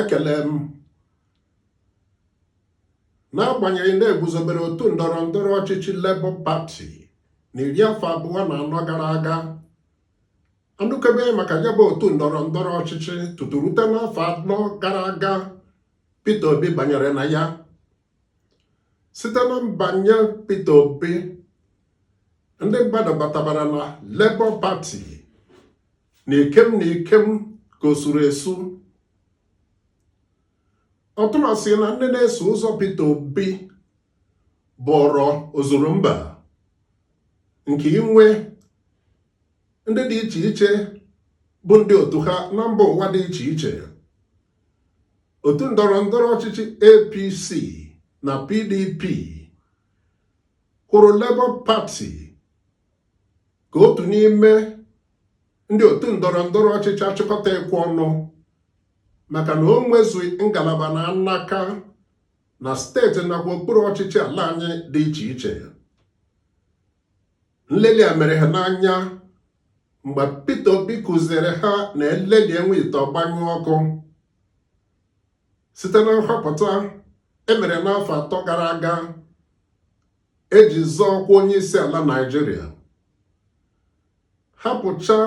ekele m n'agbanyeghị na e guzobere otu ndọrọ ndọrọ ọchịchị Labour Party na iri afọ abụọ na anọ gara aga anụkebeghị maka ya bụ otu ndọrọ ndọrọ ọchịchị tutu rute n'afọ anọ gara aga Peter Obi banyere na ya site na mbanye Peter Obi ndị mmadụ batabara na Labour Party na ikem na ikem ka o suru esu ọtụmasị na ndị na-eso ụzọ Peter Obi bụrụ ozuru mba nke inwe ndị dị iche iche bụ ndị otu ha na mba ụwa dị iche iche otu ndọrọ ndọrọ ọchịchị APC na PDP hụrụ Labour Party ka otu n'ime ndị otu ndọrọ ndọrọ ọchịchị achịkọta ekwe ọnụ maka na o nwezughị ngalaba na anaka na steeti nakwa okpuru ọchịchị ala anyị dị iche iche nlelị a mere ha n'anya mgbe Peter Obi kụziri ha na elelịa nwa ite ọ gbanyụọ ọkụ site na nhọpụta emere n'afọ atọ gara aga eji zọọ ọkwa onye isi ala Naịjirịa hapụcha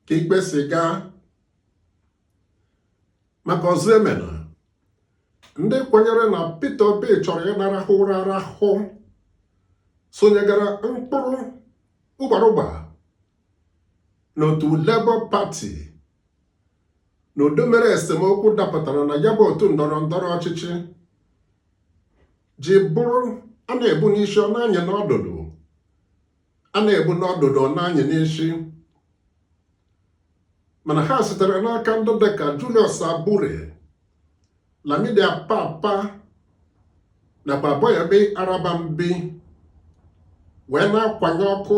ka ikpe si gaa maka ọzọ emena ndị kwenyere na Peter Obi chọrọ ịnara ha ụra arahụ sonyegara mkpụrụ ụgbarụgba n'otu Labour Party na udo mere esemokwu dapụtara na ya bụ otu ndọrọ ndọrọ ọchịchị ji bụrụ a na-ebu n'isi ọ na-anyị n'ọdụdụ a na-ebu n'ọdụdụ ọ na-anyị n'isi mana ha sitere n'aka ndị dịka Julius Abure Lamidi Apapa nakwa Abayomi Arabambi wee na-akwanye ọkụ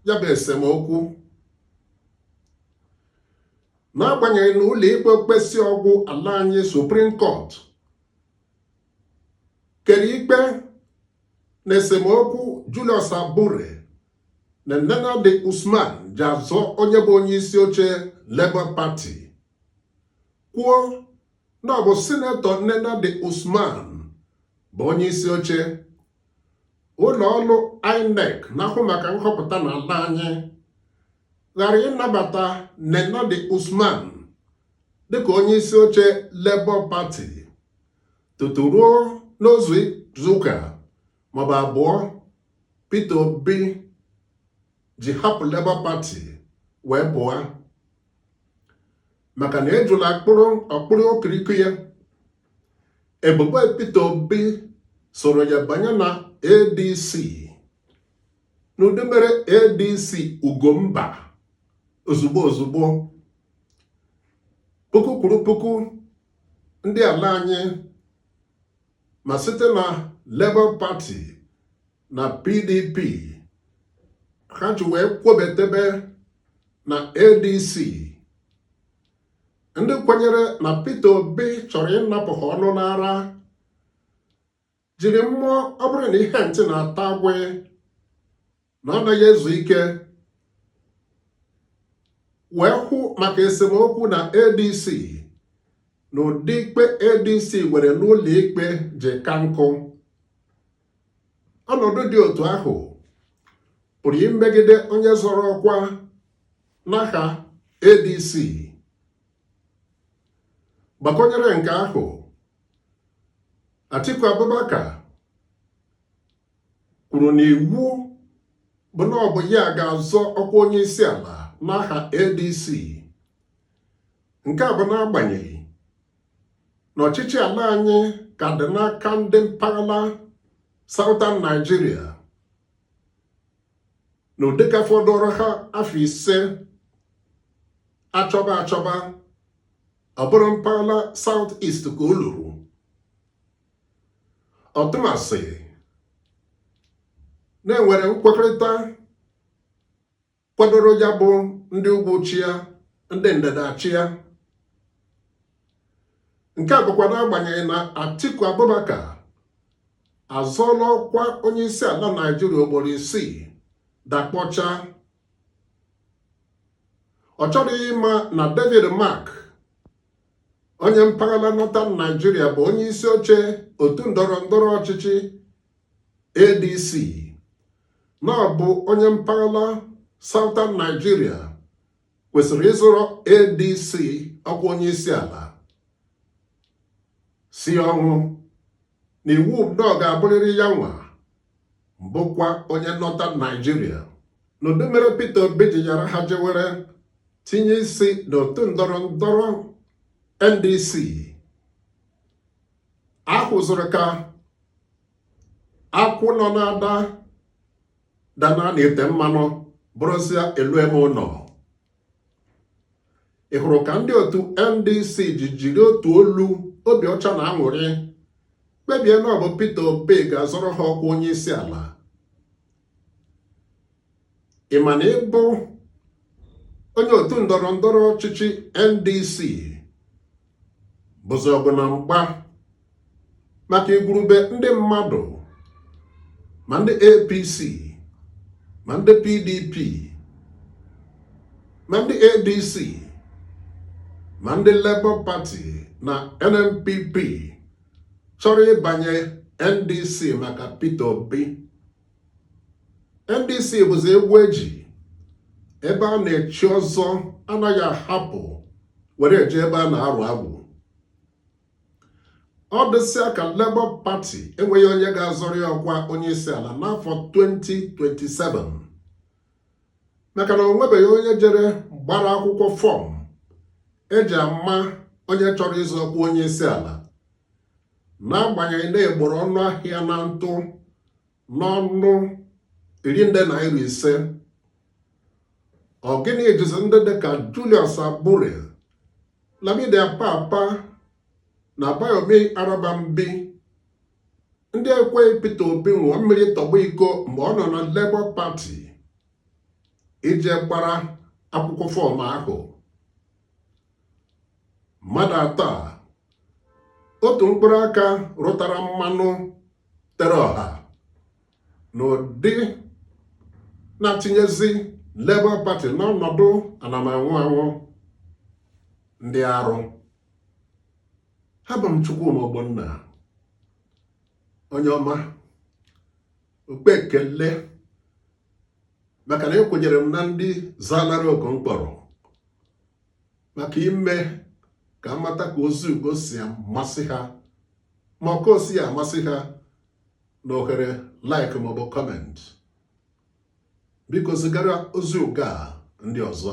ya bụ esemokwu n'agbanyeghị na ụlọikpe ekpesịa ọgwụ ala anyị Supreme Court kere ikpe na esemokwu Julius Abure na Nenadi Usman ji azọ onye bụ onye isi oche Labour Party kwuo na ọ bụ sinetọ Nenadi Usman bụ onye isi oche ụlọ ọrụ INEC na-ahụ maka nhọpụta n'ala anyị ghara ịnabata Nenadi Usman dịka onye isi oche Labour Party tutu ruo n'otu izuụka maọbụ abụọ Peter Obi ji hapụ Labour Party wee pụọ maka na ejula kpụrụ ọ kpụrụ okiriko ya ebube Peter Obi soro ya banye na ADC n'ụdị mere ADC ugo mba ozugbo ozugbo puku kwuru puku ndị ala anyị ma site na Labour Party na PDP ha ji wee kwobetebe na ADC ndị kwenyere na Peter Obi chọrọ ịnapụ ha ọnụ n'ara jiri mmụọ ọ bụrụ na ihe nti na-ata agwụghị na ọ naghị ezu ike wee hụ maka esemokwu na ADC na ụdị ikpe ADC nwere n'ụlọ ikpe ji ka nkụ ọnọdụ dị otu ahụ pụrụ imegide onye zọrọ ọkwa n'aha ADC gbakọnyere nke ahụ Atiku Abubakar kwuru na iwu bụ na ọ bụ ya ga-azọ ọkwa onye isi ala n'aha ADC nke a bụ n'agbanyeghị na ọchịchị ala anyị ka dị n'aka ndị mpaghara Southern Nigeria n'ụdị ka fọdụrụ ha afọ ise a chọba achọba ọ bụrụ mpaghara South East ka o luru ọ tụmasị na e nwere nkwekọrịta kwadoro ya bụ ndị ugwu chịa ndị ndịda chịa nke a bụkwa n'agbanyeghị na Atiku Abubakar azọọla ọkwa onye isi ala Naijiria ugboro isii dakpọcha ọ chọrọ ịma na David Mark onye mpaghara Northern Nigeria bụ onye isi oche otu ndọrọ ndọrọ ọchịchị ADC na ọ bụ onye mpaghara Southern Nigeria kwesịrị ịzọrọ ADC ọkwa onye isi ala sie ọnwụ na iwu na ọ ga-abụrịrị ya nwa bụkwa onye Northern Nigeria n'ụdị mere Peter Obi ji yara ha jewere tinye isi n'otu ndọrọ ndọrọ NDC ahụzụrụ ka akwụ nọ n'ada dana na ite mmanụ bụrụzịa elu eme ụlọ ị hụrụ ka ndị otu NDC ji jiri otu olu obi ọcha na aṅụrị kpebie na ọ bụ Peter Obi ga-azọrọ ha ọkwa onye isi ala ị ma na ịbụ onye otu ndọrọ ndọrọ ọchịchị NDC bụzi ọgụ na mgba maka igwurube ndị mmadụ ma ndị APC ma ndị PDP ma ndị ADC ma ndị Labour Party na NNPP chọrọ ịbanye NDC maka Peter Obi NDC bụzi egwu eji ebe a na-echi ọzọ anaghị ahapụ were eje ebe a na-arụ agwụ ọ dịsịa ka Labour Party enweghị onye ga-azọrọ ya ọkwa onye isi ala n'afọ 2027 maka na o nwebeghị onye jere gbara akwụkwọ fọm eji ama onye chọrọ ịzọ ọkwa onye isi ala n'agbanyeghị na egboro ọnụ ahịa na ntụ n'ọnụ iri nde naira ise ọ gịnị ejizi ndị dịka Julius Abure Lamidi Apapa na Abayomi Arabambi ndị ekweghị Peter Obi ṅụọ mmiri tọgbọ iko mgbe ọ nọ na Labour Party ije gbara akwụkwọ fọm ahụ mmadụ atọ a otu mkpụrụ aka rụtara mmanụ tere ọha n'ụdị na-etinyezi Labour Party n'ọnọdụ ana m anwụ anwụ ndị arụ abụ m Chukwuma Ogbonna onye ọma okpe ekele maka na ekwenyere m na ndị zalara oku m kpọrọ maka ime ka amata ka ozi ugo si amasị ha ma ọ ka o si ya amasị ha na ohere like maọbụ kọment biko zigara ozi ugo a ndị ọzọ